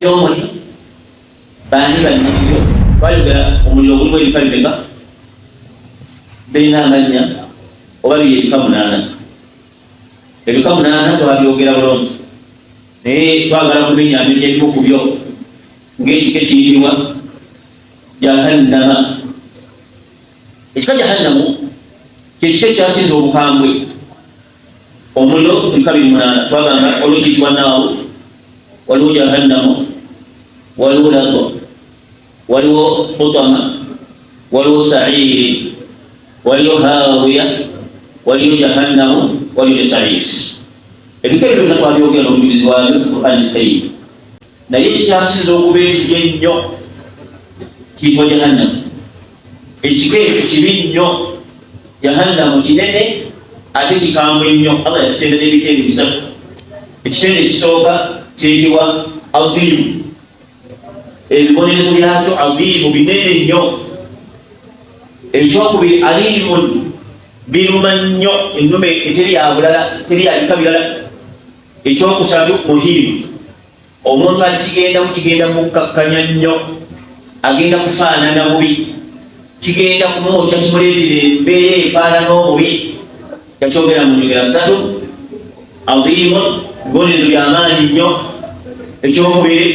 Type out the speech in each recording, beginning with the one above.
byomuli bani banyibyo twayogera omuliro ogulimu ebika bibeka birina amanya oba biri ebika munaana Ebika munaana twabyogera bulungi, naye twagala kumenyaamenya ebimu ku byo ng'ekika ekiyitibwa jahannama. Ekika jahannamu kyekika ekyasinza obukambwe omuliro ebika biri munaana twagamba waliwo kiyitibwa naawo waliwo jahannamu waliwo lago waliwo hutama waliwo sairi waliyo hawiya waliyo jahannamu waliyo ne saisi ebika ebyo byonna twabyogera nobujulizi bwabyo qurani lkarim naye kikyasinza okuba ekibi ennyo kiyitibwa jahannamu ekika ekyo kibi nnyo jahannamu kinene ate kikambwe nnyo allah yakitenda n'ebitendi bisatu ekitendo ekisooka kiyitibwa azimu ebibonerezo byakyo aziimu binene nnyo ekyokubiri aliimun biruma nnyo ennume eteri yabulala teri yabika birala ekyokusatu muhiimu omuntu alikigendamu kigenda mukkakkanya nnyo agenda kufaanana bubi kigenda kumwokya kimuleetera embeera efaanana obubi yakyogera mu njogera ssatu aziimun bibonerezo byamaanyi nnyo ekyokubiri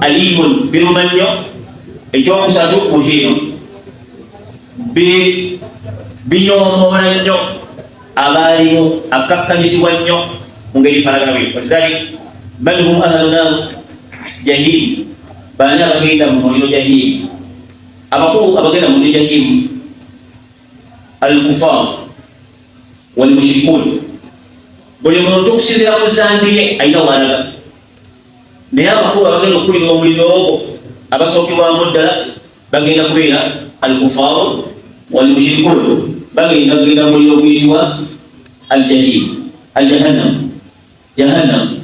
aliimun biruma nnyo ekyokusatu muhiino binyoomoola nnyo abaalimu akkakkanyizibwa nnyo mu ngeri falagana bwe walidhali bal hum ahlu nar jahim baani abagenda mu muliro jahimu abakulu abagenda mu muliro jahimu alkufar walmushrikun buli muntu okusinzira ku zambiye ayina walaga naye abakulu abagenda okukulira omuliro ogwo abasookebwamu ddala bagenda kubeera alkufaru walmushrikun bagenda kugenda muliro guyitibwa aljahim aljahannam jahannam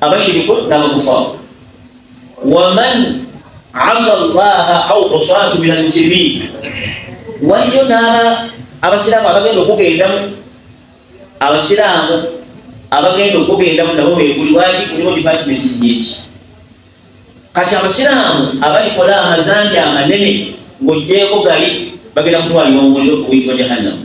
abashiriku n'abakufaru waman asa llaha au usatu min almuslimin waliyo n'aba abasiraamu abagenda okugendamu abasiraamu abagenda okugendamu nabo beguli waki kuliwo departments nyingi kati abasiraamu abalikola amazanja amanene ng'ogyeko gali bagenda kutwalibwa mu muliro oguyitibwa jahannamu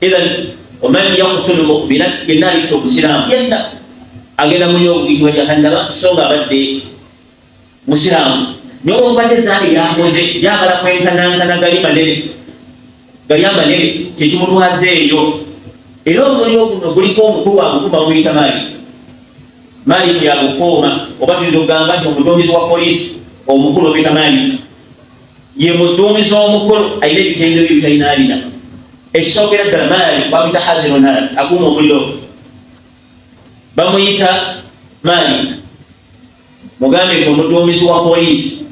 idhan waman yaktulu mumina yenna alitta omusiraamu yenna agenda muli okuyitibwa jahannama so nga abadde musiraamu naye olwokubadde zambi lyakoze lyagala kwenkanankana gali manene gali amanene kyekimutwaza eyo era omuliro guno guliko omukulu wagukuma wuyita maali maali yagukuuma oba tuyinza okugamba nti omuduumizi wa poliisi omukulu obita maali ye muduumizi omukulu ayina ebitendo bye bitalinaabina ekisookera ddala maali bamuyita hazironaali akuuma omuliro bamuyita maali mugambe nti omuduumizi wa poliisi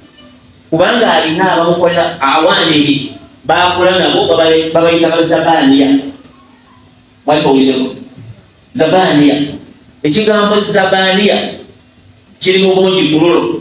kubanga alina abamukolera awaaniri bakola nabo babayita bazabaaniya mwalibawulireko zabaaniya ekigambo zabaaniya kiri mu bungi kululo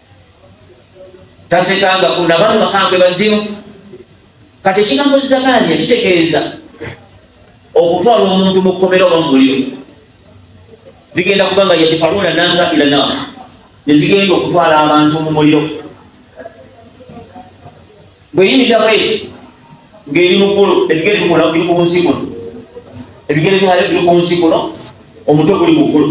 tasekanga kuna bano bakambwe bazimu kati ekigambo zizakanya kitegeeza okutwala omuntu mu kkomera oba mu muliro zigenda kuba nga yadifaluuna nansa ila nar nezigenda okutwala abantu mu muliro bweyimirira bweti ng'eri mu ggulu ebigere bikola biri ku nsi kuno ebigere byayo biri ku nsi kuno omutwe guli mu ggulu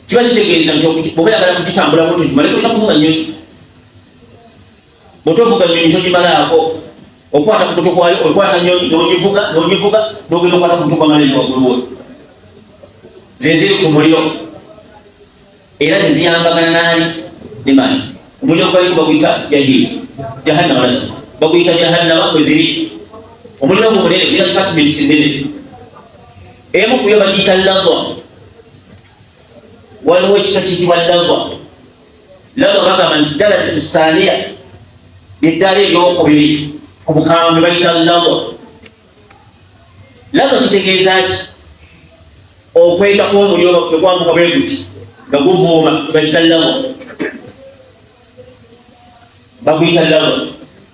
kiba kitegeeza nti bwoba yagala kukitambula bwoto kimale kulina kuvuga nyonyi bwotovuga nyonyi togimalaako okwata kubuto kwayo okwata nyonyi nogivuga nogivuga nogenda okwata kubuto kwamaleyo wagulu woyo zeziri ku muliro era zeziyambagana naani nemani omuliro gwaliku baguyita jahili jahannama lana baguyita jahannama kweziri omuliro gwo munene era departments nene emu kuyo bagiyita lava waliwo ekika kiyitibwa lava lava bagamba nti ddala tusaaniya lyeddaala eryokubiri ku bukambwe bayita lava lava kitegeeza ki okwenda kwomuliro nekwambuka bwe guti nga guvuuma bagiyita lava baguyita lava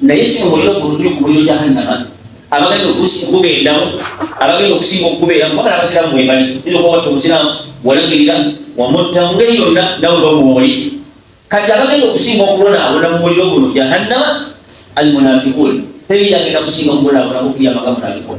naye si mubuliro bulungi kubuliro jahannama abagenda okugendawo abagenda okusinga okubeera kubagala abasiraamu mwebali ina okubawatta obusiraamu walagirira wamutta mu ngeri yonna nawe bamuoli kati abagenda okusinga okubonaabona mu muliro guno jahannama almunafikun teri yagenda kusinga okubonaabona kukiyamaga munafikun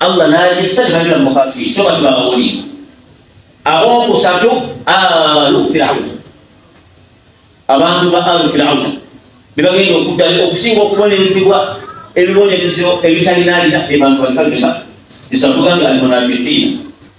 Allah n'agissa ne banywa mukafiiri so bati babawulira ab'okusatu alu firawuna abantu ba alu firawuna be bagenda okuddayo okusinga okubonerezebwa ebibonerezo ebitalinaarira ebantu balikagenda isatugambye alimunafiqiina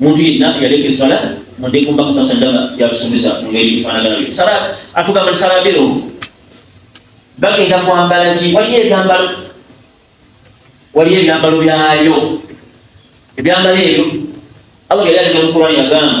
muntu yenna yaleka eswala muddeku mbaka saa sallama yalusuubiza mu ngeri efaanagana byo sala atugamba nti sala mbero bagenda kwambala ki waliyo ebyambalo waliyo ebyambalo byayo ebyambalo ebyo allah yali alina mukurani yagamba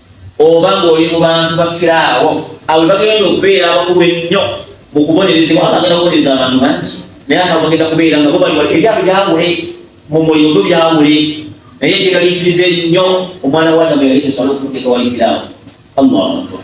oba ng'oli mu bantu bafiraawo abo bagenda okubeera abakulu ennyo mu kubonerezebwa aba agenda kubonereza abantu bangi naye aka bagenda kubeera nga bobaliwa ebyabwe byawule mu muliro gwe byawule naye kyeraliikiriza ennyo omwana wa adamu yali esobola okumuteeka wali firaawo allahu akbar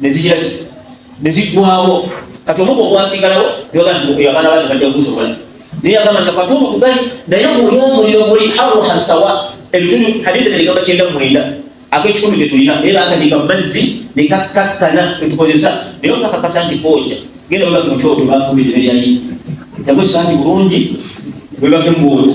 ne zigira ki ne ziggwawo kati omugo ogwasigalawo yagana bali bajja gusobola naye agamba nti akatuumu kugali naye guli omuliro guli haruha sawa ebitundu hadithi neligamba kyenda mwenda ak'ekikumi ge tulina naye baakadiika mu mazzi ne kakkakkana ne tukozesa naye okakakasa nti kooja genda webake mu kyoto baafumbidde ne lyayiki yagwe santi bulungi webake mu bwoto